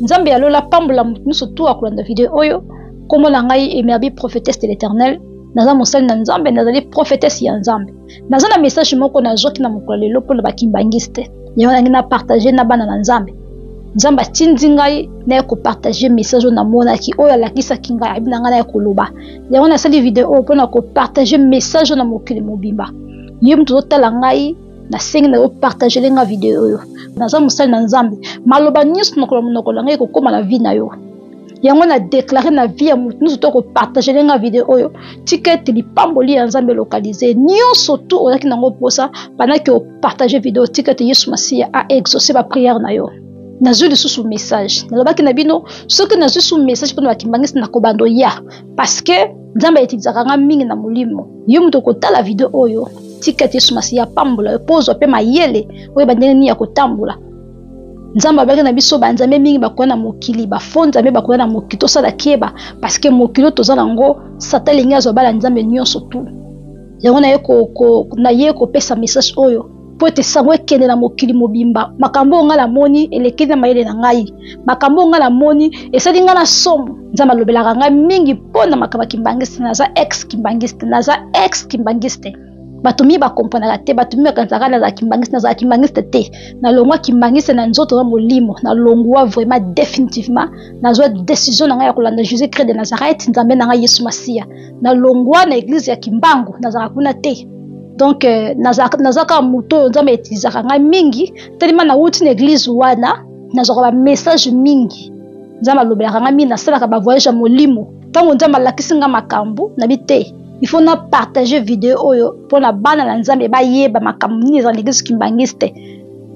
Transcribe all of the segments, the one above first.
nzambe ya lola apambola moto nyonso tu akolanda video oyo nkombo na ngai emerbi prophetesse de l'éternel naza mosali na nzambe nazali prophetesse ya nzambe naza na message moko nazwaki na mokolo lelo mpo na bakimbangiste yango nangi na partage na bana na nzambe nzambe atindi ngai naye kopartage message oyo namonaki oyo alakisaki ngai abi na ngai naye koloba yango nasali video oyo mpo na kopartage message oyo na mokili mobimba ye moto ozotala ngai nasengi na yo partagele nga video oyo naza mosali na nzambe maloba nyonso nokolo monoko na ngai ekokóma na vie na yo yango na deklare na vie ya moto nyonso to kopartagele nga video oyo tika ete lipamboli ya nzambe localise nyonso tu ozalaki nango mposa bandaki opartage video tika ete yesu masiya a exauce bapriere na yo nazwi lisusu message nalobaki na bino soki nazwi su message mpona bakimbangisi na kobando ya parce que nzambe ayetikisaka nga mingi na molimo yo moto okotala video oyo tika ete yesu masiya apambola yo mpo ozwa mpe mayele oyeba ndenge nini ya kotambola nzambe abaki na biso banzambe mingi bakoya na mokili bafo nzambe bakoya na mokili tosala keba parce que mokili oyo toza na yango sata elingi azwa bala nzambe nyonso tu yango naye kopesa message oyo mpo ete sango ekende na mokili mobimba makambo oyo ngai namoni elekeli na mayele na ngai makambo oyo ngai namoni esali ngai na somo nzambe alobelaka ngai mingi mpo na makambo ya kimbangiste naza ex kimbangiste naza ex kimbangiste bato mingi bakomponaka te bato mingi bakanisaka nazala kimbangiste nazala kimbangiste te nalongwa kimbangiste na nzoto na molimo nalongwa vraiment definitivement nazwa decision na ngai ya kolanda jésus christ de nazareth nzambe na ngai yesu masiya nalongwa na eglise ya kimbangu nazalaka kuna te donc euh, naza kaka moto oyo nzambe etilizaka ngai mingi telema nauti na eglise wana nazwaka bamessage mingi nzambe alobelaka ngai mingi nasalaka bavoyage ya molimo ntango nzambe alakisi ngai makambo nabi te il faut na partage video oyo mpo na bana na nzambe bayeba makambo nini ezala na eglise kimbangiste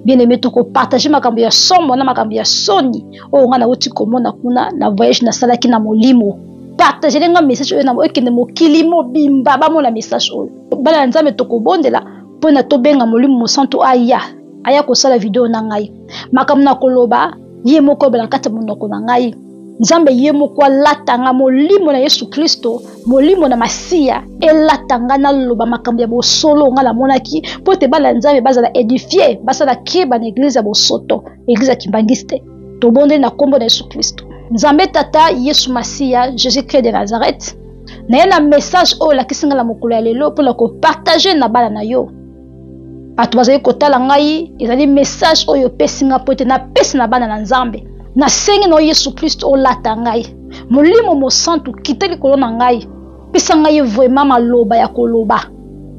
bien aimé tokopartage makambo ya somo na makambo ya soni oyo ngai nauti komona kuna na voyage nasalaki na molimo partagele nga message oyo na ekende mokili mobimba bamona message oyo bana ya nzambe tokobondela mpo na tobenga molimo mosantu aya aya kosala video na ngai makambo na koloba ye moko ebela kati ya monoko na ngai nzambe ye moko alata nga molimo na yesu kristo molimo na masiya elata nga naloba makambo ya bosolo nga namonaki mpo ete bana ya nzambe bazala edifie basala keba na eglize ya bosoto eglize ya kimbangiste tobondeli na nkombo na yesu klisto nzambe tata yesu masiya jésus christ de nazareth naye na message oyo olakisi ngai na mokolo ya lelo mpo na kopartage na bana na yo bato bazali kotala ngai ezali message oyo opesi ngai mpo ete napesi na bana na nzambe nasengi na yo yesu klisto olata ngai molimo mosantu kita likolo na ngai pesa ngai vraimen maloba ya koloba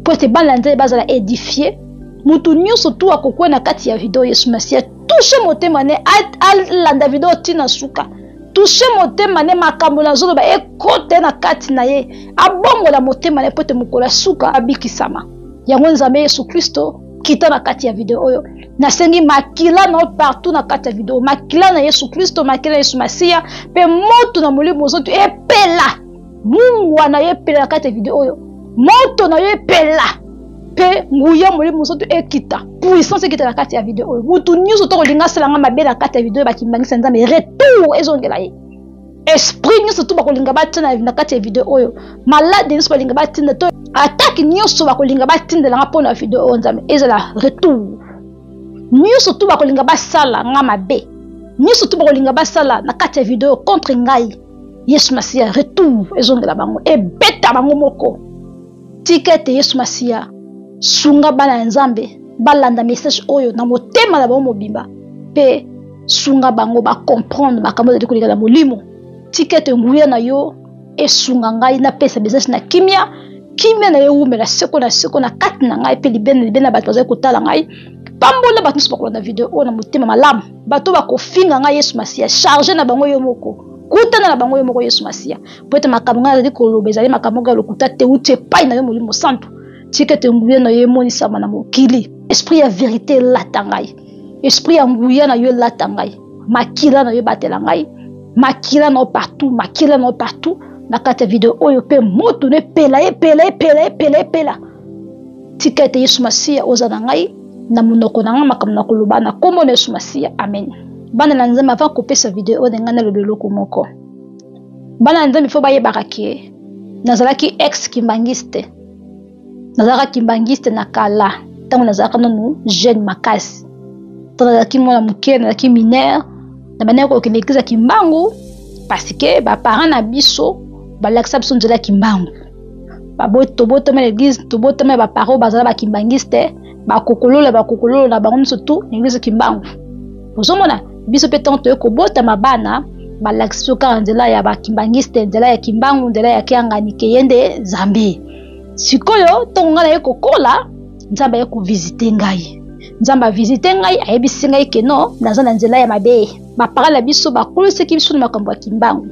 mpo ete bana na nzambe bazala edifie moto nyonso tu akokwea na kati ya video yesu masiya touche motema ne alanda video ntina suka touche motema ne makambo nazoloba ekote na kati na ye abongola motema na ye mpo te mokolo ya suka abikisama yango nzambe yesu kristo kita na kati ya video oyo nasengi makila na yo partout na kati ya video makila na yesu kristo makila na yesu masiya mpe moto na molimo mozoto epela mungwa na yo epela na kati ya video oyo moto na yo epela mpe nguya molimo mosantu ekita puissance ekita na kati ya video oyo motu nyonso to kolinga asala nga mabe na kati ya video oyo bakimbangisa nzambe retour ezongela ye esprit nyonso to bakolinga batina na kati ya video oyo malade nyonso balinga batinda to atake nyonso bakolinga batindela nga mpo na video oyo nzambe ezala retour nyonso to bakolinga basala nga mabe nyonso to bakolinga basala na kati ya video oyo contre ngai yesu masiya retour ezongela bango ebeta bango moko tika ete yesu masiya sunga bana ya nzambe balanda message oyo na motema na bango mobimba mpe sunga bango bacomprendre makambo ezali koleka na molimo tika ete nguya na yo esunga ngai napesa bizasi na kimia kimia na ye ewumela seko na seko na kati na ngai mpe libene libene ya bato bazali kotala ngai pambola bato nyonso bakolanda video oyo na motema malamu bato bakofinga ngai yesu masiya charge na bango yo moko kutana na bango yo moko yesu masiya mpo ete makambo ngai nazali koloba ezali makambo moko ya lokuta te uti epai na yo molimo santu tika ete nguya na yo emonisama na mokili esprit ya verite elata ngai esprit ya nguya na yo elata ngai makila na yo ebatela ngai makila na yo partout makila na yo partout na kati ya video oyo mpe moto no epela epela epela epela epela tika ete yesu masiya oza na ngai na monoko na ngai makambo na koloba na nkombo na yesu masiya amen bana na nzambe avant kopesa video oyo na ngai naloba eloko moko bana na nzambe fo bayebaka ke nazalaki ex kimbangiste nazalaka kimbangiste na kala ntango nazalaka nanu jeune makasi to nazalaki mwana moke nazalaki minere na bandaki kokende eglize ya kimbangu parce que baparent na biso balakisa biso nzela ya kimbangu tobotama na eglise tobotama ya bapara oyo bazala bakimbangiste bakokololo ya bakokololo na bango nyonso tu na eglise kimbangu ozomona biso mpe ntango toyei kobotama bana balakisi biso kaka nzela ya bakimbangiste nzela ya kimbangu nzela ya kiangani keye nde zambe sikoyo ntongo ngai naye kokola nzambe aye kovisite ngai nzambe avisite ngai ayebisi ngai keno naza na nzela ya mabe bapara na biso bakolosaki biso na makambo ya kimbangu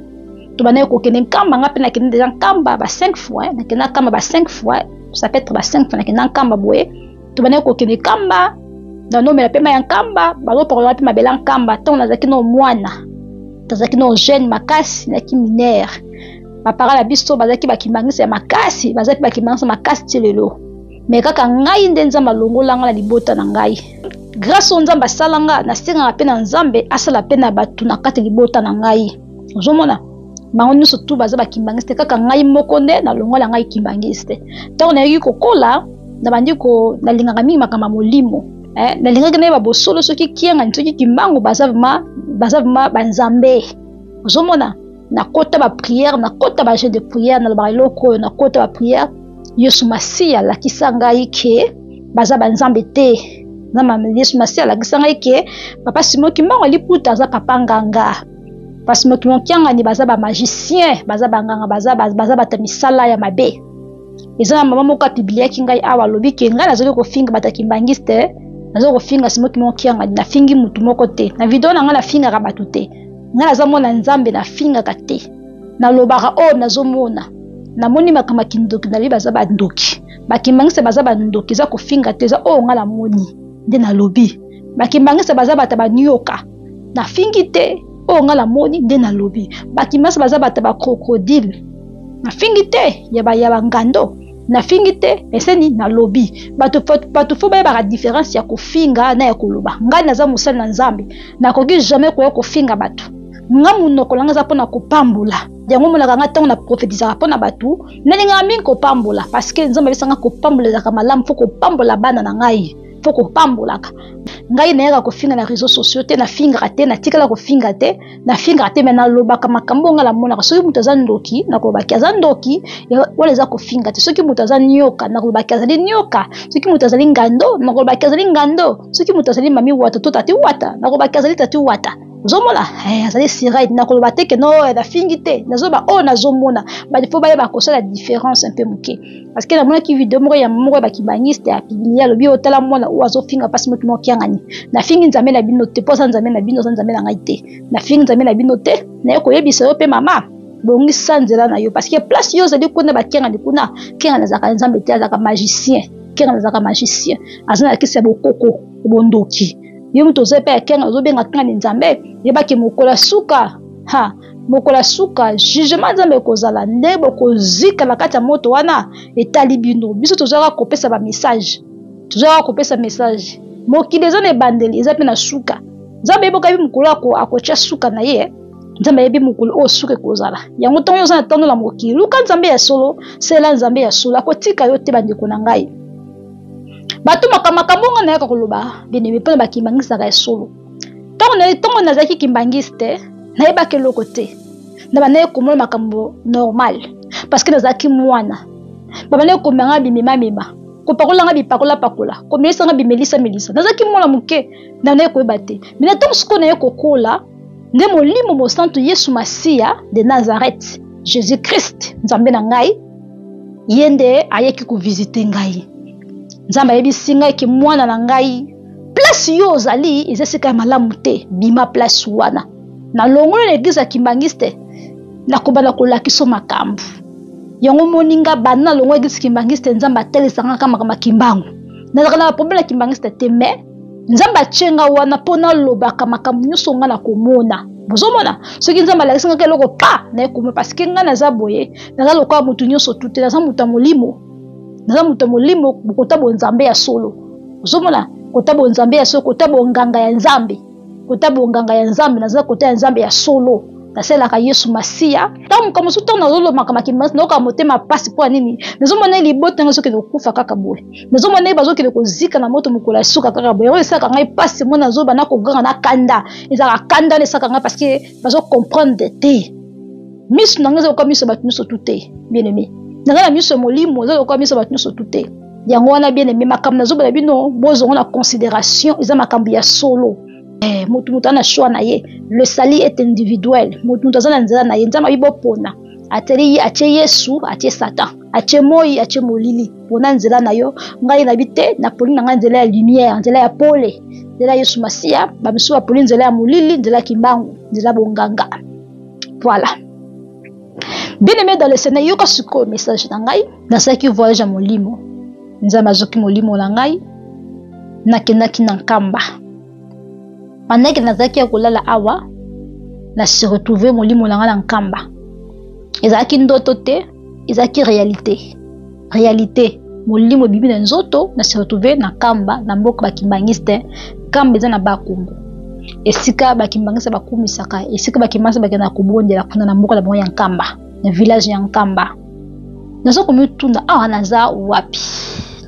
tobandaki kokende nkamba nga mpe nakende deja nkamba ba 5 fois nakenda nkamba ba 5 fois ça peut être ba 5 fois nakenda nkamba boye tobandaki kokende nkamba nanomela mpe mai ya nkamba bazopakolaka mpe mabela nkamba ntango nazalaki no mwana tozalaki no jeune makasi naki minere bapara na biso bazalaki bakimangisi ya makasi bazalaki bakimangisi makasi ti lelo me kaka ngai nde nzambe alongola ngai na libota na ngai grâce oyo nzambe asala nga nasengaka mpe na nzambe asala mpe na bato na kati libota na ngai ozomona bango nyonso tu baza bakimbangiste kaka ngai moko nde nalongola ngai kimbangiste ntango nayaki kokola nabandi ko nalingaka mingi makambo ya molimo eh, nalingaki nayeba bosolo soki kiangani soki kimbangu baza vrema baza vrema banzambe ozomona nakota bapriere nakota bajeu de priere nalobaka eloko oyo nakota bapriere yesu masiya alakisa ngai ke baza banzambe te na yesu masiya alakisa ngai ke papa simo kimbangu aliputa aza papa nganga parce que moto mokiangani baza ba magicien baza banganga baza baza bato ya misala ya mabe eza na mama moko apibliaki ngai awa alobi ke ngai nazali kofinga bato ya kimbangiste nazali kofinga simoki moko kiangani nafingi motu moko te na video na ngai nafingaka bato te ngai naza mwana nzambe nafingaka te nalobaka oyo oh, nazomona namoni makambo ya kindoki nalobi baza bandoki bakimbangiste baza bandoki eza kofinga te eza oyo oh, ngai namoni nde nalobi bakimbangiste baza bato banioka nafingi te oyo ngai namoni nde nalobi bakimasi baza bato ba crocodile nafingi te ya bangando nafingi te eseni nalobi bato fo bayebaka diference ya kofinga na ya koloba ngai naza mosali na nzambe nakoki jamais koya kofinga bato nga monoko na ngai eza mpona kopambola yango omonaka ngai ntango na profetisaka mpo na bato nalingaka mingi kopambola parce que nzambe apesanga kopambola ezalaka malamu mpo kopambola bana na ngai mpo kopambolaka ngai nayaka kofinga na réseau sociaux te nafingaka te natikala kofinga te nafingaka te me nalobaka makambo ngai namonaka soki moto aza ndoki nakolobaki aza ndoki wana eza kofinga te soki moto aza nioka nakolobaki azali nioka soki moto azali ngando nakolobaki azali ngando soki moto azali mami wata to tati wata nakolobaki azali tati wata ozomona eh, azali siride nakoloba te ke no eh, nafingi te nazoba oyo oh, nazomona badefo baye bakosala différence mpe moke parce que namonaki video moko ya moko ya bakibangiste ya piblia alobi oyo tala mwana oyo azofinga mpasi moki moko kiangani nafingi nzambe na bino te mpo aza nzambe na bino aza nzambe na ngai te nafingi nzambe na bino te naye koyebisa yo mpe mama bongisa nzela na yo parce que place yo ozali kuna bakiangani kuna kiangani azalaka nzambe te azalaka magicien kiangani azalaka magicien aza na kisi ya bokoko bondoki yo moto oza epai ya kiangani ozobenga kiangani nzambe yebaki mokola suka ha mokolo ya suka jugement nzambe ekozala nde bokozika na kati ya moto wana etali bino biso tozwaka kopesa bamessage tozwaka kopesa message mokili eza na ebandeli eza mpe na suka nzambe yeboka yebi mokolo akotya suka na ye nzambe ayebi mokolo oyo suka ekozala yango ntango yo oza na ntango na mokili luka nzambe ya solo sela nzambe ya solo akotika yo te bandeko na ngai bato makambo makambo ngai nayaka koloba benebe mpona bakimangisaka ya solo ntango na ntango nazalaki kimbangiste nayebaki eloko te na bandaki komona makambo normal parce que nazalaki mwana babandaki komemanga bimemamema kopakolanga bipakolapakola komelisanga bimelisamelisa nazalaki mwana moke na naye koyeba te me na ntango sikoyo naye kokola nde molimo mosantu yesu masiya de nazareth jésus christ nzambe na ngai ye nde ayeki kovizite ngai nzambe ayebisi ngai ke mwana na ngai place yo ozali eza esika ya malamu te bima place wana na longola na eglize ya kimbangiste nakobanda kolakisa makambo yango omoni nga banda na longola eglize kimbangiste nzambe atelisa nga kaka makambo ya kimbangu nazalaka na baproblème ya kimbangiste te mais nzambe atye nga wana mpo nalobaka makambo nyonso nga nakomona bozomona soki nzambe alakisi ngaka eloko pa naye komona parceke ngai naza boye naza lokola moto nyonso tute naza moto ya molimo naza moto ya molimo kota bonzambe ya solo ozomona kota bonzambe ya solo kota bonganga ya nzambe kota bonganga ya nzambe naza kota ya nzambe ya solo nasalelaka yesu masiya ntango moka mosusu ntango nazolomaka makimasi nayoka motema mpasi mpo ya nini nazomona ye libota yango ezokende kokufa kaka boye nazomona ye bazokende kozika na moto mokolo ya suka kaka boye yango esalaka ngai mpasi mona nazoba na koganga na kanda ezalaka kanda na esalaka ngai parceke bazo comprendre te miso na ngai eza lokola miso ya bato nyonso tu te bien aimé na ngai na miso ya molimo eza lokola miso ya bato nyonso tu te yango wana bien aimé makambo nazobela bino bozongo na considération eza makambo ya solo eh, moto moto aza na choix na ye le sali est individuel moto moto aza na nzela na ye nzambe abi bopona ateli ye atie yesu atie satan atie moi atie molili pona nzela na yo ngai nayebi te naponi na ngai nzela ya lumière nzela ya pole nzela yesu masiya bamisusu baponi nzela ya molili nzela ya kimbangu nzela bonganga voilà bien aimé dans le seigneur yoka sikoyo message na ngai nasalaki voyage ya molimo nzambe azoki molimo na ngai nakendaki na nkamba bandaki nazalaki ya kolala awa na se retrouve molimo na ngai na nkamba ezalaki ndoto te ezalaki realite realite molimo ebibi na nzoto na se retrouve na kamba na mboka bakimbangiste kamba eza na bakongo esika bakimbangiste bakumisaka esika bakimbangiste bakenda kobondela kuna na mboka na bango ya nkamba na village ya nkamba naza komituna awa naza wapi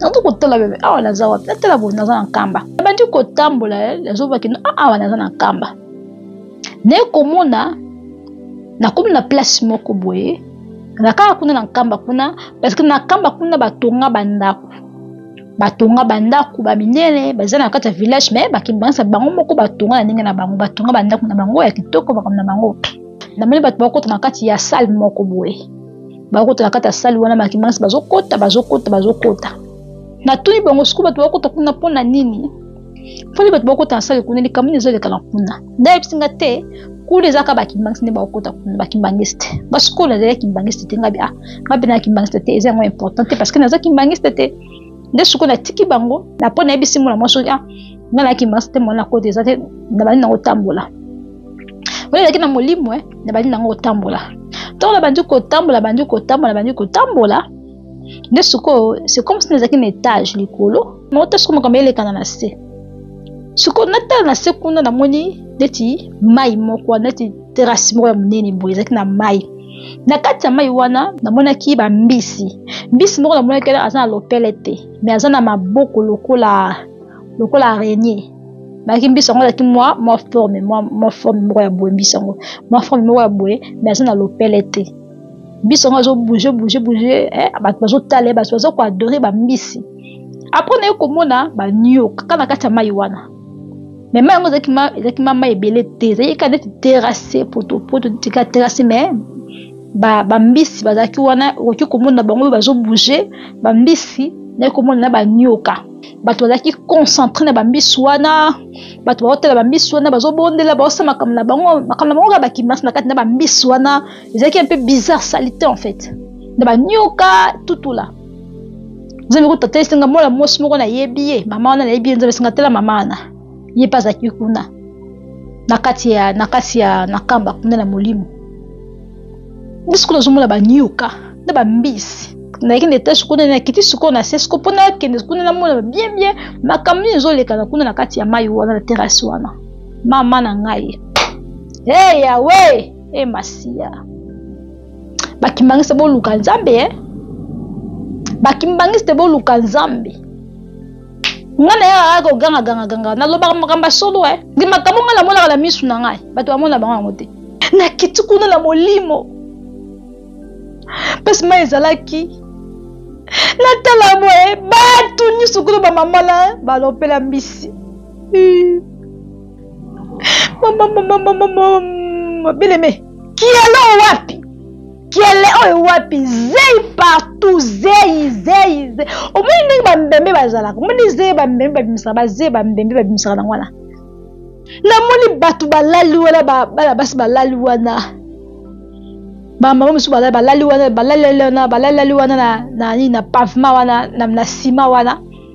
naza kotala bebe awa naza wapi natala boye naza na nkamba nabandi kotambola eh, nazobaki ah, awa naza na nkamba naye komona nakomi na place moko boye na kaka kuna na nkamba kuna parce que na nkamba kuna batonga bandako batonga bandako baminene baza na kati ya village me bakimbanisa bango moko batonga na ndenge na bango batonga bandako na bango ya kitoko makambo na bango namoni bato bakota na kati ya sale moko boye bakota na kati ya sale wana bakimbanisi bazokota bazokota bazokota natuni bango sikoyo bato bakota kuna mpo na nini mponi bato bakota na sale kuna likambo nini ezoleka na kuna nde ayebisi nga te kuna ezalaka bakimbangisi nde bakokota kuna bakimbangiste basukolo nazali ya kimbangiste te ngabi a ah, nga mpe na kimbangiste te eza yango important te parce que naza kimbangiste te nde sukolo natiki bango na mpo nayebisi mwana mwasi oyo ah, nga na kimbangiste te mwana kota eza te nabandi nango otambola oyo ezalaki na molimo e eh, nabandi nango otambola ntango nabandi kotambola bandi kotambola bandi kotambola nde sikoyo c'est comme si nazalaki na etage likolo nauta soko makambo elekana na se sikoyo natala na se kuna namoni neti mai moko wana neti terase moko ya monene boye ezalaki na mai na kati ya mai wana namonaki bambisi mbisi moko namonaki wana aza na lopele te me aza na maboko lokola lokola arenie bayaki mbisi yango azalaki mwa mwa forme mwa forme moko ya boye mbisi yango mwa forme moko ya boye me aza na lopele te biso yango azo bouge bouge bouge eh, bato bazotala ye bato baza koadore bambisi apres naye komona banioka kaka na kati ya mai wana me mai yango ezalaki ma mai ebele te ezalaki kaka neti terase potopoto neti kaka terase me bambisi ba bazalaki wana okoki komona bango bazobouge bambisi naye komona na banioka bato bazalaki concentre na bambisi wana bato baotala bambisi wana bazobondela baosala makambo na bango makambo na bango kaka bakimasi na kati na bambisi wana ezalaki un peu bizarre salite en fait na banioka tutula nzambe kotata esenga mwana mwasi moko nayebi ye mama wana nayebi ye nzambe esenga tala mama wana ye mpe azalaki kuna na kati ya na kati ya na kamba kuna na molimo biso kuna ozomona banioka na bambisi nayaki na etage kuna nakiti sikoyo na se siko mpo nakende kuna namona bien bien makambo nini ezolekana kuna na kati ya mai wana na terase wana mama na ngai hey, yawe e masiya bakimbangiste boluka nzambe e bakimbangiste boluka nzambe nga na yaka kaka kogangagangaganga nalobaka makambo ya solo e ndi makambo ngai namonaka na misu na ngai bato bamona bango yango te nakiti kuna na molimo mpasi mai ezalaki natala boye bato nyonso kuna bamama na balopela mbisi beleme kiele oyo wapi kiele oyo wapi zei partout zei zei omoni ndenge bambembe bazalaka omoni zei bambembe babimisaka bazei bambembe babimisaka nango wana namoni bato balali wana bana basi balali wana bamama mosusu bazali balali wana balaleli wana balaleli wana na nini na pavema wana na nsima wana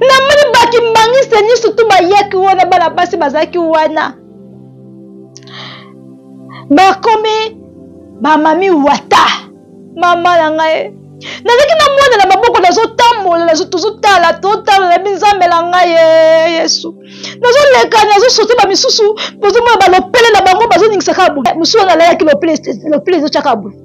namoni bakimbangisite nyonso tu bayaki wana bana basi bazalaki wana bakomi bamami wata mama na ngai nazalaki na mwana na maboko nazotambola tozotala tozotala nayebi nzambe na ngai ye eh, yesu nazoleka nazosote bamisusu bozomona balopele na bango bazoningisaka mosusu wana alalaki lopele ezotyaka boye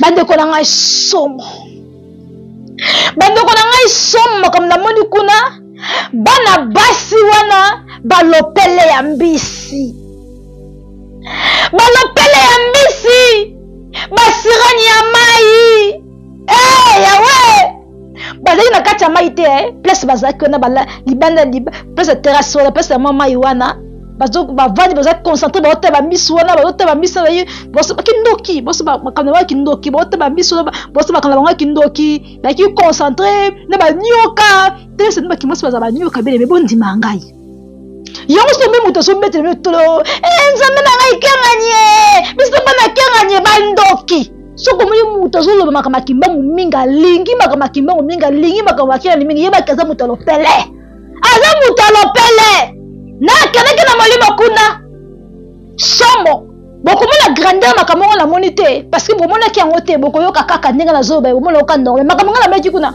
bandeko na ngai somo bandeko na ngai somo makambo namoni kuna bana basi wana balopele ya mbisi balopele ya mbisi basirani ya mai hey, eh, yawe bazali na kati ya mai te eh? place bazalaki wana bala libanda place ya terrasse wana place ya mwa mai wana bavandi baza concentre baotala bamisu wana baotala bamisu na baye kindoki boso makambo ya kindoki baotala bamisu wana boso makambo na bango ya kindoki baki concentre na banioka telesende bakimasi baza banioka bele me bondima ngai yango so mpe moto azobetela bino tolo e eh, nzambe na ngai kenganie biso bana kenganie bandoki soki omoni moto azoloba makambo akimbangu mingi alingi makambo akimbangu mingi alingi makambo akengani mingi yebaki aza moto ya lopele aza moto ya lopele nakendaki na molimo kuna somo bokomona grandeur makambo yango namoni te parce que bomonaki yango te bokoyoka kaka ndenge nazoloba bomona oka norme makambo ngai namonaki kuna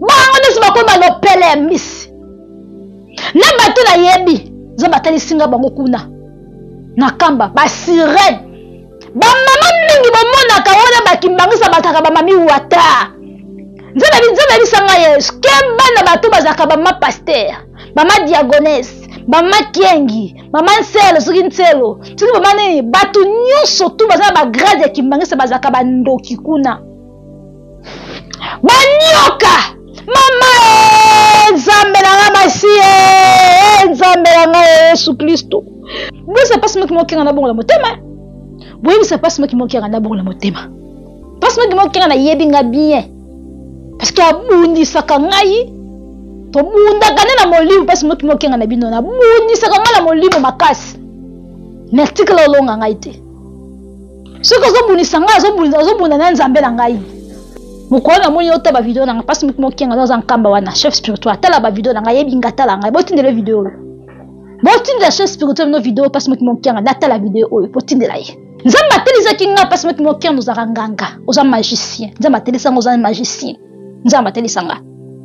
bango nyonso bakoma na opele ya misi na bato nayebi nzo batalisi nga bango kuna na kamba basirene bamama mingi bomonaka wana bakimbangisa bataka bamami wata nzambe nzambe abisa nga yesu ke bana bato bazalaka bama paster bama diagonese mama kiengi mama nselo soki nselo soki mama nini bato nyonso tu baza na bagrade ya kimbangisa bazalaka bandoki kuna banyoka mama eh, nzambe na nga masiye eh, nzambe na nga eh, yesu kristu boyebisa mpasi moki mokenga na bongo na motema boyebisa mpasi moki mokenga na bongo na motema mpasi moki mokenga nayebi nga bien parceke abundisaka ngai tobundaka nde na molimo mpasi moki mokenga na bino nabundisaka ngai na molimo makasi natikala olonga ngai te soki ozobundisa ngai ozobunda na nzambe na ngai mokolo namoni ota bavideo na ngai mpasi moki mokenga nde oza nkamba wana chef spirituel atala bavideo na ngai yebinga atala ngai botindela video oyo botindela chef spirituel no video mpasi moki mokenga nde atala video oyo botindela ye nzambe atelisaki ngai mpasi moki mokenga ozalaka nganga oza magicien nzambe atelisaki ngai oza magicien nzambe atelisa nga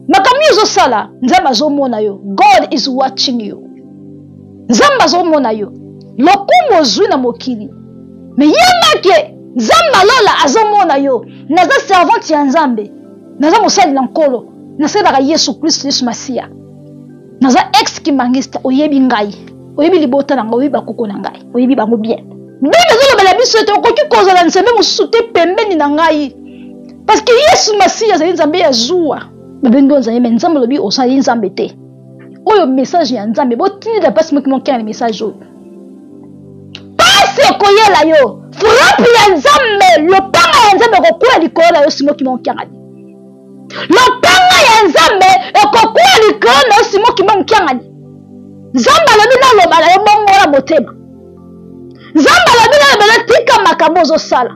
makambo yo ozosala nzambe azomona yo god is watching you nzambe azomona yo lokumu ozwi na mokili me yembake nzambe alola azomona yo naza servante ya nzambe naza mosali na nkolo nasalelaka yesu kristo yesu masiya naza ex kimangista oyebi ngai oyebi libota na ngai oyebi bakoko na ngai oyebi bango bien bino ezolobela biso ete okoki kozala nzambe mosusu te pembeni na ngai Parce que Yesu Masiya azali Nzambe ya zuwa. Babengi yo Nzambe, mais Nzambe alobi ozali Nzambe te. Oyo message ya Nzambe, botindi la pasi moki moki na message oyo. Pasi ekoyela yo, frappe ya Nzambe, lopanga ya Nzambe ekokwela likolo na yo simo kimo kiangani. Lopanga ya Nzambe ekokwela likolo na yo simo kimo kiangani. Nzambe alobi naloba na yo bongo na motema. nzambe alobi na ebele tika makambo ozosala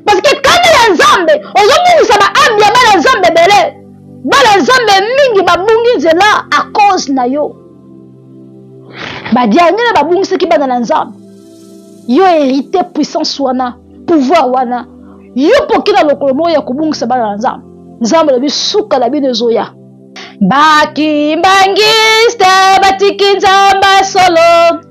parceke kanda ya nzambe ozobungisa baambi ya bana nzambe ebele bana nzambe mingi babungi nzela a cause na yo badiangele babungisaki bana na nzambe yo hérité puissance wana pouvoir wana yo poki na lokolo moko ya kobungisa bana na nzambe nzambe alobi suka na bino ezoya bakimbangiste batiki nzambe solo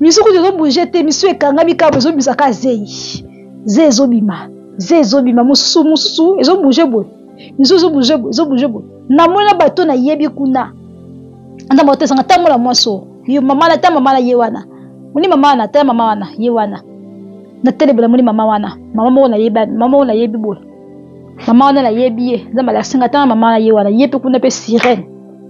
misu kutu ezobouge te misu ekangami kaka ezobimisa kaka zei ze ezobima ze ezobima mosusu mosusu ezobouge boye misu ezobouge boye ezobouge boye namoni na bato nayebi kuna ata bato esanga ntango na mwasi oyo yo mama na ta mama na ye wana moni mama wana ta mama wana ye wana natelebela moni mama wana mama moko nayebi mama moko nayebi boye mama wana nayebi ye nzambe alasinga ntango mama na ye wana ye mpe kuna mpe sirene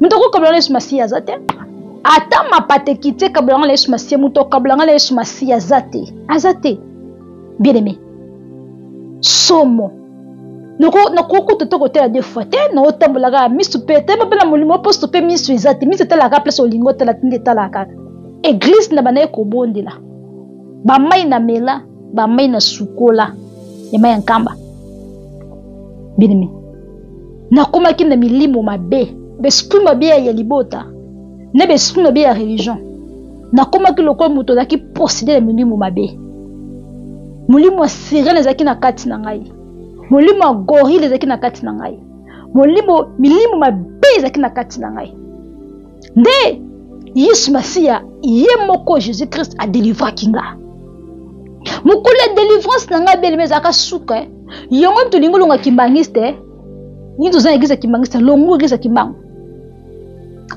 moto akokabela na yesu masiya aza te ata mapata ekiti ekabela nga na yesu masiya moto akabela nga na yesu masiya aza te aza te bien aimé somo nakoki kutu te kotala de fois te naotambolaka ya misu mpe teba mpe na molimo mposo mpe misu eza te misu etalaka place olingi otala tinde etalaka kaka eglize na bandaki kobondela bamai na mela bamai na sukola ya mai ya nkamba binimi nakomaki na milimo mabe besprit mabe ya libota na besprit mabe ya religion nakomaki lokola moto azalaki posede na milimo mabe molimo ya sirene ezalaki na kati na ngai molimo ya gorile ezalaki na kati na ngai molimo milimo mabe ezalaki na kati na ngai nde yesu masiya ye moko jésus christ adelivraki nga mokolo ya delivrance na ngai beleme ezalaka suka eh. yango nini tolingi olonga kimbangiste eh. nini toza na eglise ya kimbangiste longu eglise ya kimbangu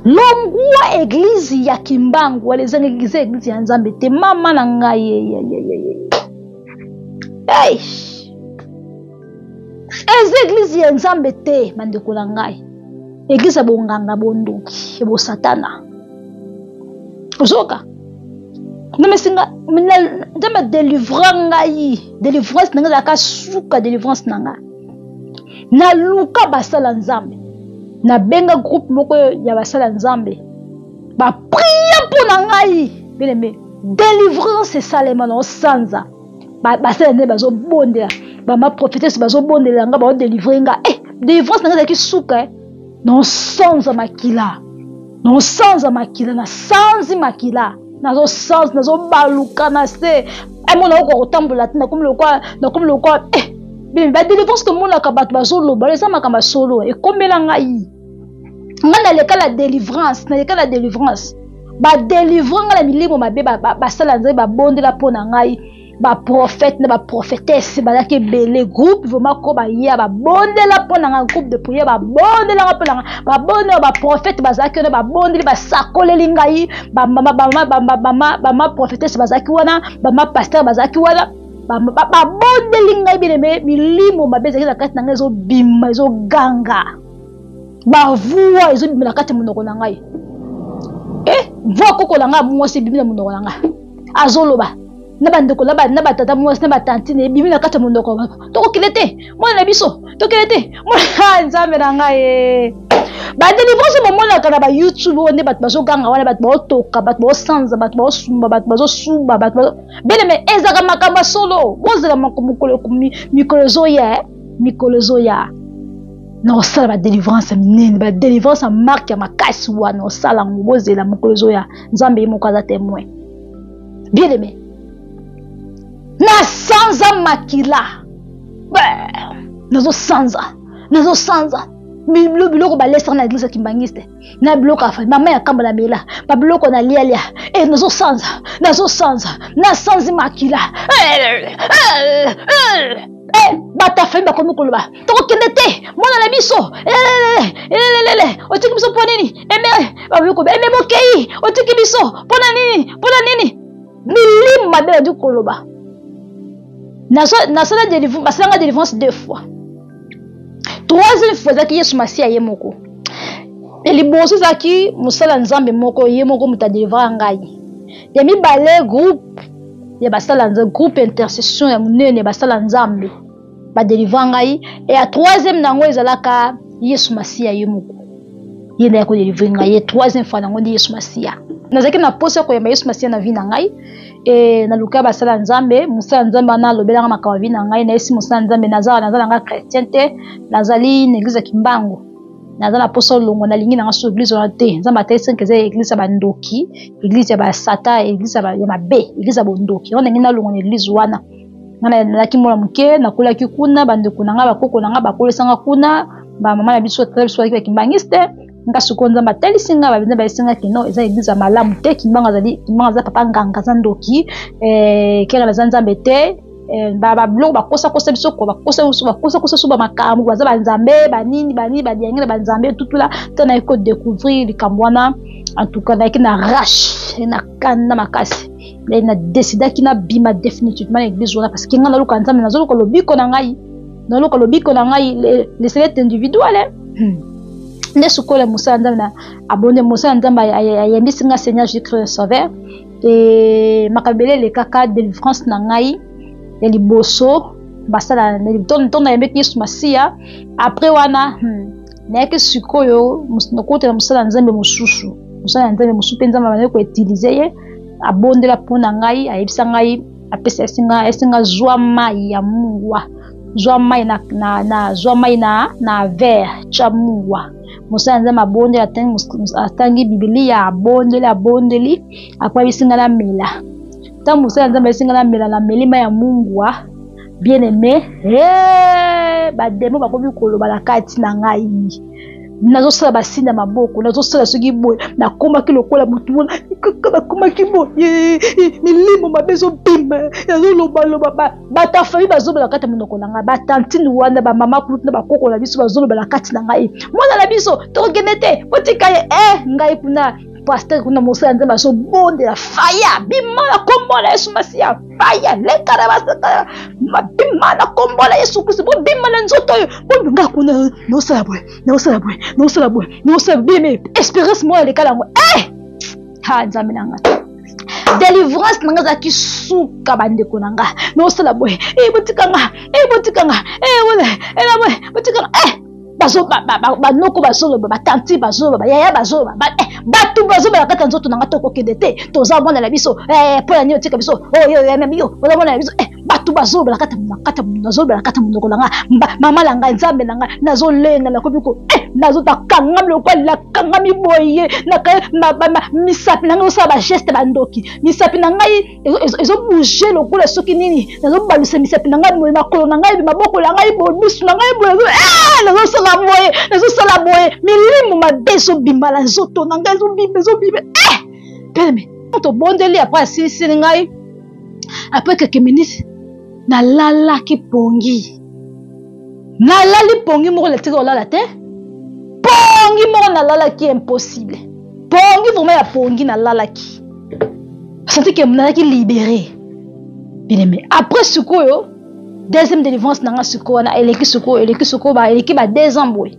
longwa eglise ya kimbangu wala eza eglise eglise ya nzambe te mama na ngai hey. eza eglize ya nzambe te bandeko na ngai eglize ya bonganga bondoki ya bosatana ozoka nomesinga nzambe adelivra ngai delivrance na ngai ezalaka suka delivrance na ngai naluka basala nzambe nabenga groupe moko ya basala nzambe baprie mpo na ngai beleme delivrance esalema na osanza basala nde bazobondela bama prophétesse bazobondelela nga baodelivre nga e eh, delivrance na nga ezalaki suka eh. nosanza makila nosanza makila nasanzi makila nazosanza nazobaluka na se amona eh, okoka kotambola te nakomi lokwa nakomi lokwa e badelivrance tomonaka bato bazoloba eza makambo ya solo ekomela ngai ngai naleka na delivrance naleka na delivrance badelivre ngai na milimo mabe basala nzambe babondela mpo na ngai baprofete na baprofetese bazalaki ebele groupe vraimen ko baya babondela mpo na ngai groupe de priere babondelaka mpo na ngai babondela baprofete bazalaki wana babondeli basakoleli ngai bamama profetese bazalaki wana bama pastere bazalaki wana babondeli ngai bileme milimo mabe ezalaki na kati na ngai ezobima ezoganga bavua ezobima na kati ya monoko na ngai e eh, voi koko na ngai mwasi ebimi na monoko na ngai azoloba na bandeko na batata mwasi na batantine ebimi na kati ya monoko tokokile te mwana na biso tokile te ah, nzambe na ngai eh. badelivrance bamonaka na bayoutube oyo nde bato bazoganga wana bato baotoka bato baosanza bato baosumba bato bazosuba bato beleme ezalaka makambo ya solo bozela mikolo ezoya eh. mikolo ezoya nakosala badelivrance ya minene badelivrance ya marke ya makasi wana osala yango bozela mokolo ezoya nzambe ye moko aza temoin bien aime nasanza makila nazosanza nazosanza biloko balesaka na eglise ya kimbangiste na biloko ya fai mama ya kamba na bela babiloko na lialia e eh, nazosanza nazosanza nasanzi makila e bato ya fai bakomi koloba tokokende te mwana na biso elelelele otiki biso mpo nini eme babikobe eme bokei otiki biso mpo na nini mpo na nini milimu mabe nadi koloba nasalanga delivrance deux fois troisième fois ezalaki yesu masiya ye moko ya liboso ezalaki mosala nzambe moko ye moko moto adelivra ngai ya mibale groupe ya basala groupe intercession ya monene ya basala nzambe badelivra ngai ya troisième na yango ezalaka yesu masiya ye moko ye nde yakodelivre ngai ye troisième fois na yango nde yesu masiya nazalaki na mposa ya koyamba yesu masiya na vi na ngai e naluka basala ya nzambe mosala ya nzambe wana alobelanga makambo ya vi na ngai nayesi mosala ya nzambe naza naza na ngai chrétien te nazali na eglize ya kimbangu naza na mposa olongwa nalingi na ngai so eglize wana te nzambe atalisi nke eza eglize ya bandoki eglize ya basata eglize ya mabe eglize ya bondoki yango ndenge nalongwa na eglize wana ngai nazalaki mwana moke nakolaki kuna bandeko na ngai bakoko na ngai bakolisanga kuna bamama na biso tata biso bazalaki bakimbangisite nga sikoyo nzambe atalisi nga babenza bayesi nga kino eza eglize ya malamu te kimbango azali kimbango aza papa nganga aza ndoki eh, kere naza nzambe te eh, babiloko bakosakosa biso ko bakosakosa so bamakambo baza banzambe banini banini badiangi na banzambe tutula te naye ko découvrir likambo wana en tout cas nayaki na rache na kanda makasi na décidaki nabima définitivement na église wana parce que ngai naluka nzambe nazoluka lobiko na ngai noluka lobiko na ngai leselet individuel eh? hmm. nde sukola mosala nzambe na abonde mosala nzambe ayembisi ngai seigneur jésus christ sauveur e makambo ebele elekaka délivrance na ngai ya liboso basala ntongo nayembeki yesu masiya après wana hmm, nayaki sikoyo nakotela mosala nzambe mosusu mosala ya nzambe mosusu mpe nzambe abandaki koutilize ye abondela mpo na ngai ayebisa ngai apesa esinga esinga zwa mai ya mungwa zwa mai na, na, na zwa mai na na verre tya mungwa mosala nzambe abondeli atangi bibilia abondeli abondeli akwabisi ngai namela ntango mosala nzambe ayesi ngai namela nameli mai ya mungwa bien aime hey, bademo bakomi koloba na kati na ngai nazosala basini ya maboko nazosala soki boye nakomaki lokola motu wana kaka nakomaki boye milimo mabe ezobima nazolobaloba bato ya fami bazoloba kati ya monoko na ngai batantine wana bamama kutu na bakoko na biso bazoloba na kati na ngai mwana na biso tokokende te botika ye e ngai kuna paster kuna mosala nzambe azobondela faya bima na kombo na yesu masiya baya leka na basaka mabima na kombo na yesu kristo bobima na nzoto oyo bononga kuna naosala boye naosala boye naosala boye naosala bime espérance moko aleka nango e eh! ha nzambe na ngai délivrance na nga ezalaki suka bandeko na nga naosala boye e eh, botika nga e botika nga e bola ela boye botika nga e bazo ba, ba, ba, ba noko bazoloba batanti bazoloba bayaya bazoloba ba, eh, bato bazobala kati ya nzoto na ngai tokokende te toza mwana na biso eh, mpo na nini otika biso oyo oh, ememi yo oza mwana na biso eh, bato bazolobela kati kati nazolobela kati monoko na ngai mama na ngai nzambe na ngai nazolenga nakomi ko eh, nazotakankami lokola nakangami boye misapi na ngai osala bageste bandoki misapi na ngai ezobouge lokola soki nini nazobalusa misapi na ngai boye makolo na ngai maboko na ngai boye misu na ngai boye eh, nazosala boye nazosala boye milimo mabe ezobima na nzoto na ngai ezobima ezobima eh! peme tobondeli apres asilisili ngai apres keke minisi nalalaki pongi nalali pongi moko natika olala te pongi moko nalalaki impossible pongi vraimen ya pongi nalalaki santi ke nalaki libere bileme après sikoyo deuxième délivrance na nga sikoyo wana eleki sikoyo eleki sikoyo eleki ba deux ans boye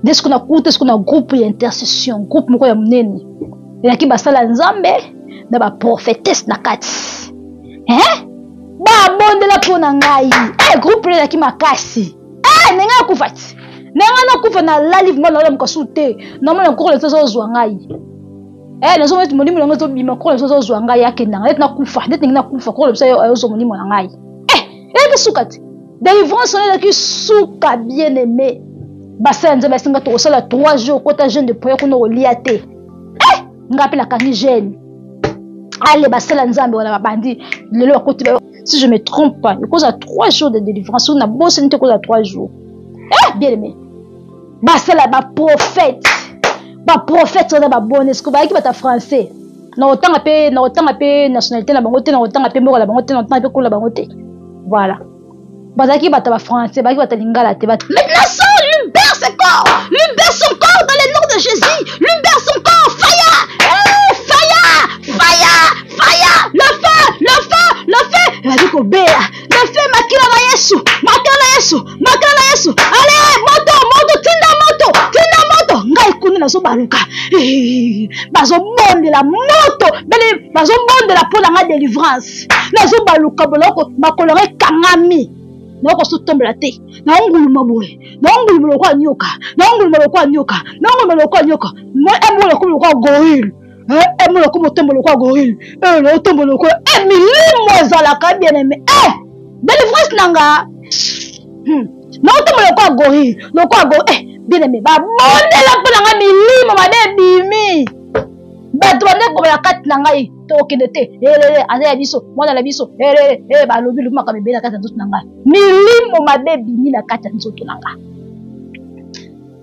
nde soki nakuta soki na groupe ya intercession groupe moko ya monene elaki basala ya nzambe na baprofetese na kati eh? babondela mpo na ngai e groupe na elaki makasi e ndenge akufa ti na ngai nakufa na lali vrima naola mokasu te namona nkoko na biso azozwa ngai e nazomona neti molimo na ngai ezobima nkoko na biso azozwa ngai akendanga neti nakufa neti ndenge nakufa nkoko na biso ayozwa molimo na ngai e elaki suka te delivrance wana elaki suka bien aime basa ya nzambe asenga tokosala 3 jours kota jeune de prière kuna okolia te eh! ngai mpe nakangi jeune ale basala nzambe wana babandi lelo bakoti si je me trompe pas ekozala 3 jours de délivrance soki nabosani te ekozala 3 jours eh bien aimé basala baprophète baprophète wana baboni siko bayaki bata français nakotanga mpe nakotanga mpe nationalité na bango te nakotanga mpe mboka na bango te nakotanga mpe kola bango te voilà bazalaki bato ya bafrançais bazalaki bato ya lingala te bato maintenant son libère ce corps libère son corps dans le nom de jésus libère son corps fire eh, fire fire fire le feu le feu le feu ebaki kobela le feu makila na yesu makila na yesu makila na yesu ale moto moto tinda moto tinda moto ngai kuna nazobaluka bazobondela moto bele bazobondela mpo na ngai delivrance nazobaluka boloko makolo ngai ekangami nakokosa otombola te naonguluma boye naonguluma lokola nyoka naonguluma lokola nyoka naonguluma lokola nyoka moi embongo lokola lokola gorille emo lokola motombo lokola gorille oyo na otombo lokola e eh, milimo ezalaka bien aime e eh, delivrance na nga hmm. na otombo lokola gorille lokola go e eh, bien aime babondela mpo na nga milimo mabe ebimi bato bande kobala kati na ngai tokende te elele aza ya biso mwana na biso elele e balobi lobi makambo ebele na kati ya nzoto na ngai milimo mabe ebimi na kati ya nzoto na ngai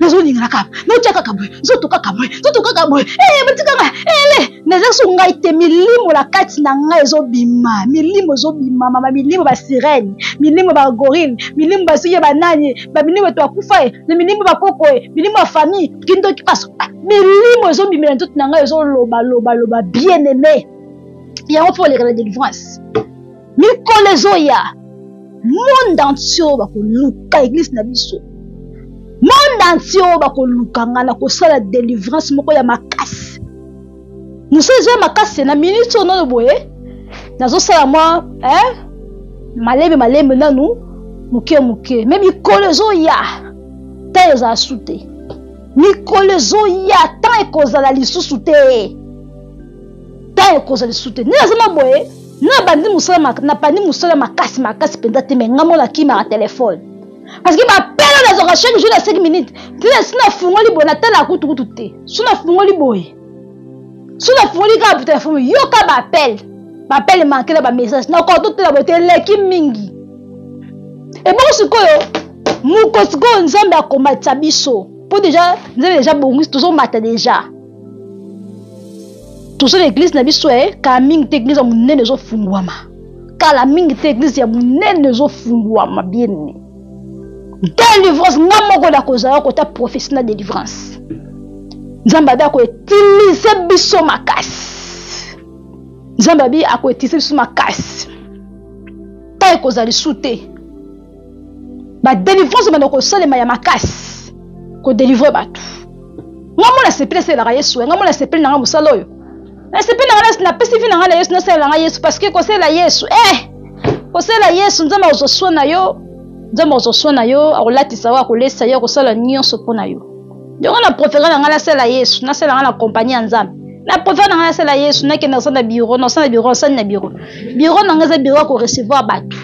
nazolinga kaka naotya kaka boye nzoto kaka boye nzoto kaka boye ee batikaka ele naza so ngai te milimo na kati na ngai ezobima milimo ezobima mama milimo basirene milimo bagorille milimo basuki ya banani bamilimo eto akufa ye na milimo bakoko ye milimo ya famille kindoki paso milimo ezobimela nzoto na ngai ezoloba loba loba bien aime yango mpo oleka na délivrance mikolo ezoya monde entier oyo bakoluka eglise na biso monde entier oyo bakoluka ngai na kosala delivrance moko ya makasi mosala ezoya makasi na minute oyo nano boye nazosala mwa eh? malembe malembe nanu moke moke me mikolo ezoya ta ezala su te mikolo ezoya ntango ekozala lisusu te ntango ekozala lisusu te nini azoma boye na bandi mosala na bandi mosala makasi makasi mpenza te me nga mona kimaka telefone parce que bapela nazwaka chaque jour na 5 minute ntina si nafungoli boye natala kutukutu te so nafungoli boye so nafungoli kaka po telefone yoka bapele bapele manke na bamessage nakoka totela boye te eleki mingi ebongo sikoyo moko sikoyo nzambe akomatisa biso mpo deja nzambe deja bongisi tozomata deja toza na eglize na biso ya kala mingi te eglize ya monene ezofungwama kala mingi te eglize ya monene ezofungwama biene delivrance nga moko nakozala kota profesi na delivrance nzambe abi akoetilize biso makasi nzambe abi akoetilize biso makasi ta ekozala lisu te badelivrance ebanda kosalema ya makasi kodelivre bato ngai mona sepele asalelaka yesu ngai mona sepele na ngai mosala oyo nasepeli na ngai napesi vi na ngai na yesu nasalela na ngai yesu parce que kosalela yesu eh kosalela yesu nzambe akozwa swa na yo nzambe akozwa swa na yo akolatisa yo akolesa yo akosala nyonso mpo na yo yango na profere na ngai nasalela yesu nasalela ngai na kompani ya nzambe na profere na ngai nasalela yesu nakende kosala na biro nasala na biro nasali na biro biro na ngai eza biro ya korecevoir bato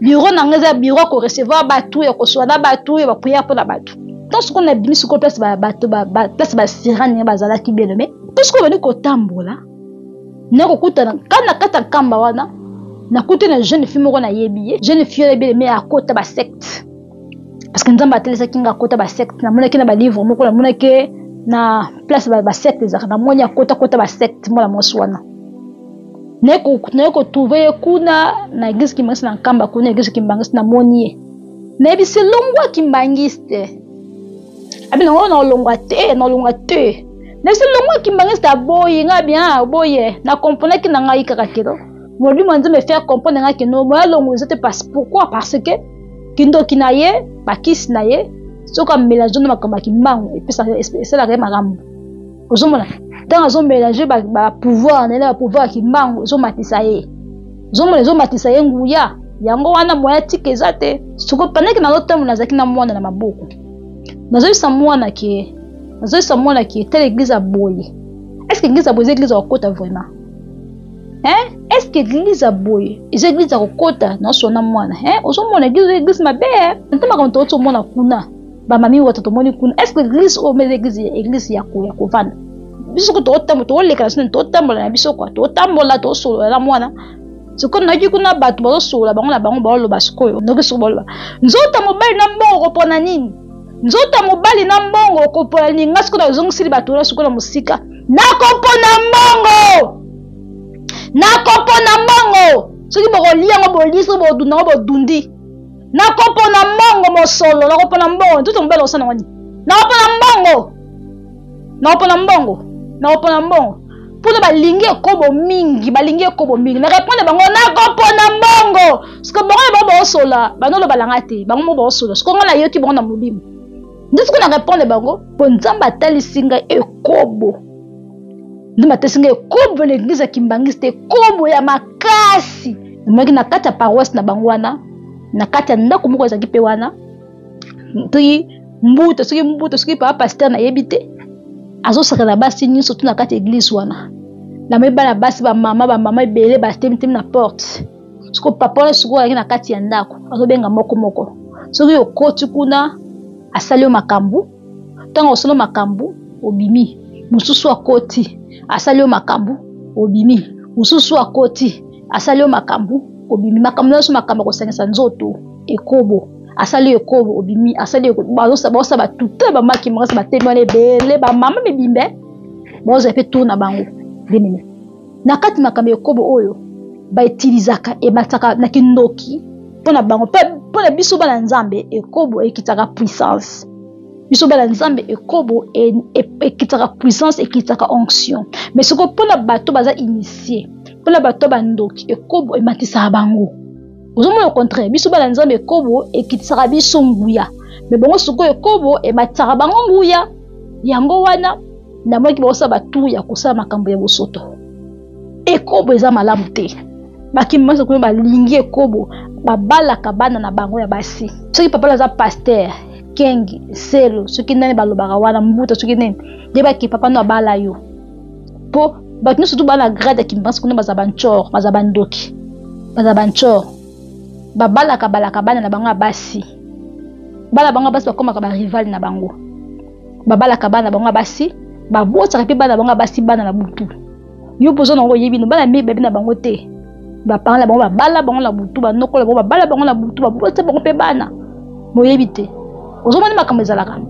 biro na ngai eza biro ya korecevoir bato ya koswa na bato ya bapriere mpo na bato ntango sikoyo na bimi sikoyo place bato place basira ndenge bazalaki bino me mpo sikoyo bandi kotambola nakokutana ka na kati ya nkamba wana nakuti na jeune fille moko nayebi ye jeune fille wana ebele me akota basecte parce que nzambe atelesaki nga akota basecte namonaki na balivre moko namonaki na place basecte ezalaka namoni akota kota basecte mwana mwasi wana naye kotrouve ye kuna na eglise kimbangisi na nkamba kuna eglise kimbangisi namoni ye nayebisi longwa kimbangisi te abi nango oh, naolongwa te naolongwa te nayebisi longwa kimbangisi te aboyi ngai bien ah, oboye na komponaki na ngai kaka kilo molimo ya nzambe faire comprendre ngai kino moya longo eza te parce pourquoi parce que kindoki na ye bakisi na ye soki amelange na makambo ya kimbangu esalaka ye makambo ozomona ntango azomelange bapouvoir na ye na bapouvoir ya kimbangu ezomatisa ye ozomona ezomatisa ye nguya yango wana moya tika eza te soko pandaki nazotambo nazalaki na mwana na maboko nazoyebisa mwana ke nazoyebisa mwana ke tala eglize ya boye estce eglize ya boye eza eglize ya kokota vraiment hein estce eglize ya boye eza eglize ya kokota naosona mwana hein ozomona eglize eglize mabe nte makambo tooti omona kuna ba mami wata tomoni kuna est ce que église oyo mele église église ya ko ya kovanda biso soko tokotambola tokoleka na sino totambola na biso kwa totambola tosolola na mwana sikoyo nayoki kuna bato bazosolola bango na bango baoloba sikoyo noki soko baloba nzota mobali na mbongo kopona nini nzota mobali na mbongo okopona nini nga sikoyo nazongisili bato wana sikoyo na mosika nakopona mbongo nakopona mbongo soki bokolia yango bolie soki bodunda yango bodundi nakopona mbongo mosolo nakopona mbongo ntutu mobele osana wani nakopona mbongo nakopona mbongo nakopona mbongo mpona balingi ekobo mingi balingi ekobo mingi na reponde bango nakopona mbongo siko bango na bango baosola banolo balanga te bango mo baosola siko ngai nayoki bango na molimo nde siko na reponde bango mpo nzambe atalisi ngai ekobo nde batesi ngai ekobo na eglize ya kimbangiste ekobo ya makasi emaki na kati ya paroisse na bango wana na kati ya ndako moko ezalaki mpe wana soki mbuta soki mbuta soki papa paster nayebi te azosaka na basi nyonso tu na kati ya eglize wana namoni bana basi bamama bamama ebele batemitemi na porte soko papa wana sikoyo alaki na kati ya ndako azobenga moko moko soki okoti kuna asali yo makambo ntango osolo makambo obimi mosusu akoti asali yo makambo obimi mosusu akoti asali yo makambo obimi makambo nyonso makambo akosangisa nzoto ekobo asali ekobo obimi asali baosa batute bamaki makasi batemi wana ebele bamama mibimbe baozala mpe tour na bango denene na kati makambo ya ekobo oyo baetilizaka emataka na kindoki mpo na bango mpe mpo na biso bana nzambe ekobo ekitaka puissance biso bana nzambe ekobo e, e, ekitaka puissance ekitaka onction mais soko mpo na bato baza initie mpo na bato bandoki ekobo ematisaka bango ozomona au contraire biso bana nzambe ekobo ekitisaka biso nguya me bongo sikoyo ekobo ematisaka bango nguya yango wana namonaki baosala batour ya kosala makambo ya bosoto ekobo eza malamu te bakimi banso kuna balingi ekobo babalaka bana na bango ya basi soki papa aza paster kengi selo soki nani balobaka wana mbuta soki nini yebaki papa no abala yo mpo bato nyonso tu baa na grade ya kimbansi kuna baza bancor baza bandoki baza bancor babalaka balaka bana na bango ya basi bana bango ya basi bakomaka barival na bango babalaka bana na bango ya basi babotaka mpe bana na bango ya basi bana na butu yo mpoza na yango oyebi no bana mibebi na bango te bapangala bango babala bango na butu banokola bango babala bango na butu babota bango mpe bana boyebi te ozomoni makambo ezalaka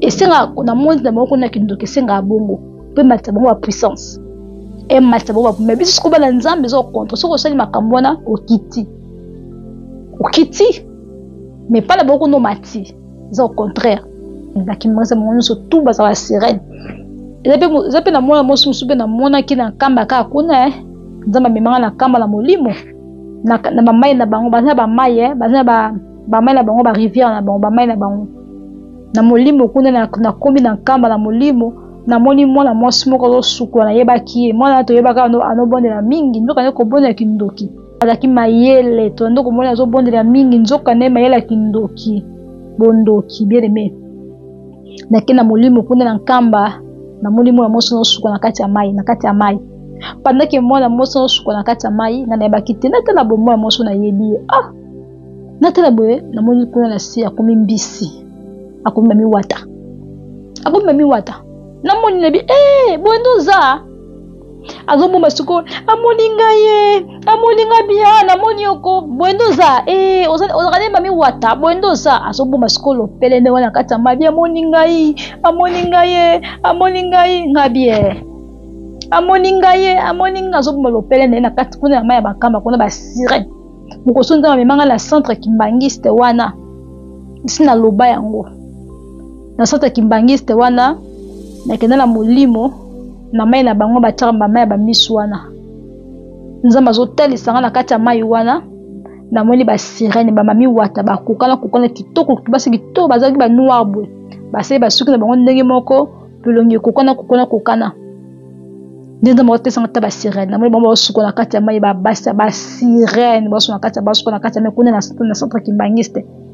esengaka na moni na bango kuna ya kindoki esengaka bongo mpe matisa bango bapuissance ematisa bango bapume biso soki bana nzambe eza okontre soki osali makambo wana okiti okiti me pala bango kuna omati eza au contraire bakimasa bango nyonso tu baza ba sirene eza mpe na mwana mwasi mosusu mpe namonaki na nkamba kaka kuna eh. nzambe amemanga na nkamba na molimo na bamai na bango baza na bamai eh. baza na bamai na bango barivière na bango bamai na bango na molimo kuna nakomi na nkamba na molimo namoni mwana mwasi moko azosukola nayebaki ye mwana toyebaka anobondela mingi nzoka nde kobondela kindoki azalaki mayele tozali nde komona azobondela mingi nzoka nde mayele ya kindoki bondoki bien aime nake na molimo kuna na nkamba namoni mwana mwasi nosuka na kati ya mai na kati ya mai pandake mwana mwasi nosuka na kati ya mai nga nayebaki te natala boye mwana mwasi nayebi ye ah natala boye namoni kuna na se akomi mbisi akomi mami wata akomi mami wata namoni nayebi ee eh, boye nde oza azobomba sikoyo amoni ngai ye amoni ngai bia ah, namoni yoko boye nde oza eh, ozalaka nde mami wata boye nde oza azobomba sikoyo lopele nde wana kati ya mabi amoni ngai amoni ngai ye amoni ngai ngai bie amoni ngai ye amoni ngai azobomba lopele na ye na kati kuna ya mai ya bakamba kuna basire mokoso nzambe amemanga na centre kimbangiste wana nsi naloba yango na sorte ya kimbangiste wana nakenda na molimo na mai na bango batyaka mama ya bamisu wana nzambe azotalisa nga na kati ya mai wana namoni basirene bamami wata bakokana kokana kitoko basi kitoko bazalaki banoir boye basali basuki na bango ndenge moko bilongi ekokana kokana kokana nde nzambe akotesanga ata basirene namoni bango baosuka na kati ya mai babasi ya basirene baosuka na kati ya basuka na kati ya mai kuna na centre kimbangiste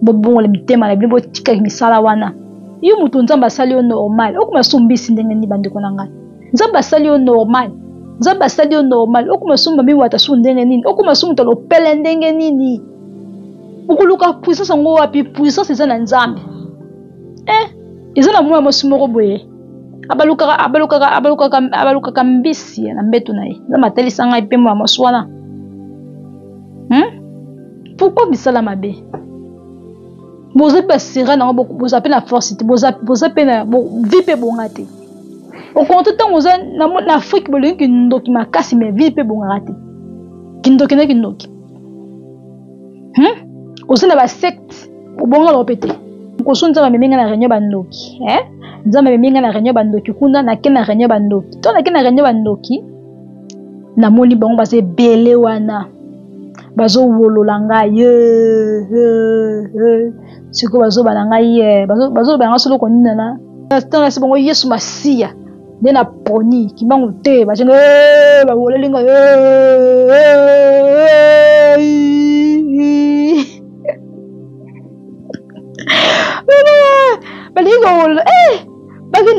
bobongola mitema na bino botikaki misala wana yo moto nzambe asali yo normal okoma sombisi ndenge nini bandeko na ngai nzambe asali yo normal nzambe asali yo normal okoma somba miwata su ndenge nini okoma su moto alopele ndenge nini okoluka puissance yango wapi puissance eza na nzambe eh, eza na mwana mwasi moko boye abalukaka abalukaka abalukaka abalukaka mbisi na mbeto na ye nzambe atalisa ngai mpe mwana mwasi wana hmm? pourquoi misala mabe boza mpe basera nango boza mpe na force te boza mpe na vi mpe bonga te okonto ntango oza na afrike bolingi kindoki makasi mai vi mpe bongaka te kindoki na kindoki hmm? oza na basecte obonga loko mpe te koso nzambe amemi ngai na réunion bandoki eh? nzambe amemi ngai na réunion bandoki kuna nake na réunion bandoki to nake na réunion bandoki namoni bango baza ebele wana bazowolola ngai ye sikoyo bazoba na ngai ye bazoloba ngai soloko ninana ntango nasi bango yesu masiya nde na poni kimbangu te bacenga bawoleli ngai balingi kowolola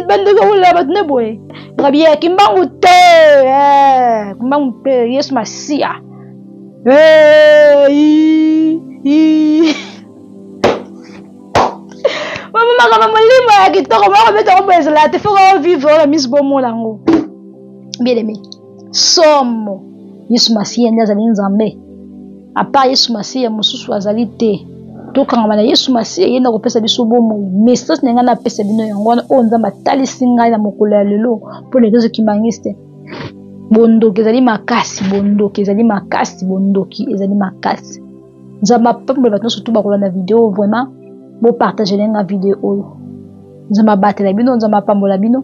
bandeko bolela bato nde boye ngabi ye kimbangu te eh, kimbangu te yesu masiya mamamaka na molimo ya kitoko moko beta koboyezela te fo kao vivre oyo misi bomona yango bien aimé somo yesu masiya nde azali nzambe apa yesu masiya mosusu azali te tokangama na yesu masiya ye nde akopesa biso bomoi message na ngai napesa bino yango wana oyo nzambe atalisi ngai na mokolo ya lelo mpo na eglise kimbanguiste bondoki ezali makasi bondoki ezali makasi bondoki ezali makasi nzambe apambola bato nyonso tu bakolanda video vraiment bopartage lenga video oyo nzambe abatela bino nzambe apambola bino